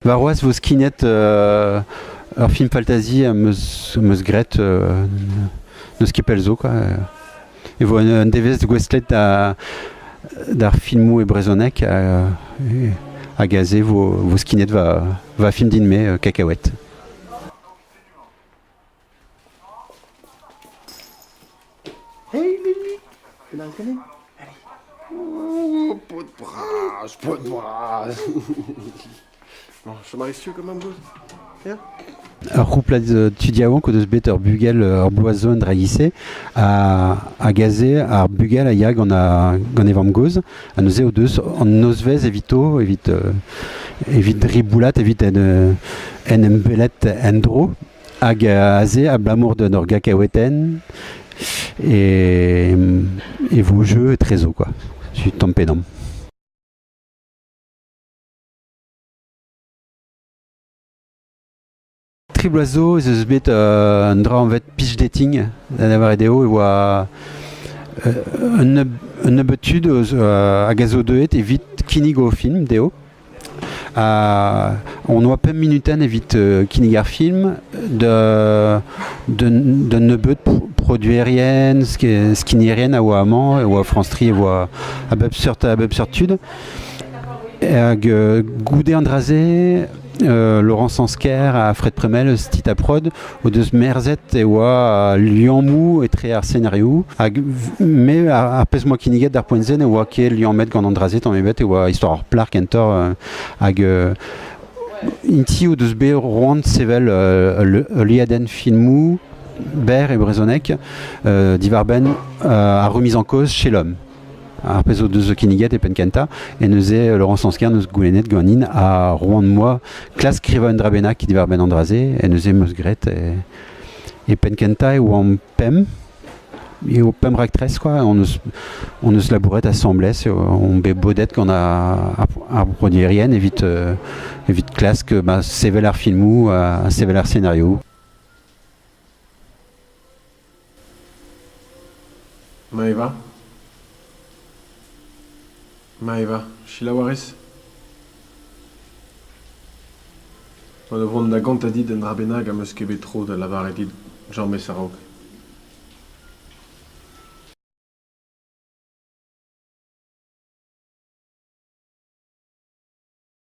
Varroaz 'vo skinet ur film faltazi am eus graet n'eus ket pell zo quoi. E vo un devezh gouestlet d'ar filmoù e brezhoneg hag aze 'vo skinet va film din-me Kakaouet. Hei, Lili! Penaos ganet? Oh, paotr bras, paotr bras. bon, Chomari, si tu comme un bout Viens. Ur c'houplad euh, tu dis avant que de bet ur bugel ur bloazon dragissé a, a gazé ar bugel a yag gant a gant e vamm gozh a neuze o deus an nozvezh evito evit euh, evit riboulat evit en euh, en em belet en dro Hag aze abalamour d'un ur gacaotenn e, e vo jeu etrezo quoi. Je suis tamm pe damm. Tri bloaz zo ez eus bet euh, un dra anvet pitch dating, da lavaret eo e oa euh, un, un nebeud tud eus, euh, hag a zo deuet evit kinnig o film dezho. on oa pemp minuten evit kinnig ar film da nebeud produerien, skinierien a oa amañ, e oa France 3, e oa a bep seurt, a bep seurt tud. Hag Goude Andraze, Laurent Sansker, à Fred Premel, Tita Prod, o deus merzet e oa al liammoù etre ar szenarioù hag me ar pezh m'oa kinniget d'ar poent-se ne oa ket liammet gant an dra-se tamm ebet e oa istor ar plac'h kentoc'h euh, hag euh, inti o deus bet roant sevel heuliadenn filmoù berr e brezhoneg diwar-benn ar remise en cause chez l'homme Ar pezh o deus kinniget e penn-kentañ e neuze Laurent Sansker neus goulennet ganin ha roan-moi klask skrivañ un dra bennak diwar-benn an dra-se e neuze meus graet e penn-kentañ e oamp pemp eo pemp raktres quoi on eus on eus labouret asambles on bet bodet gant ar broderien evit evit klask sevel ar filmoù ha sevel ar szenarioù Maeva Maeva selaou a ris. Gant o vont da gontañ dit un dra bennak am eus ket bet tro da lavaret dit james a-raok.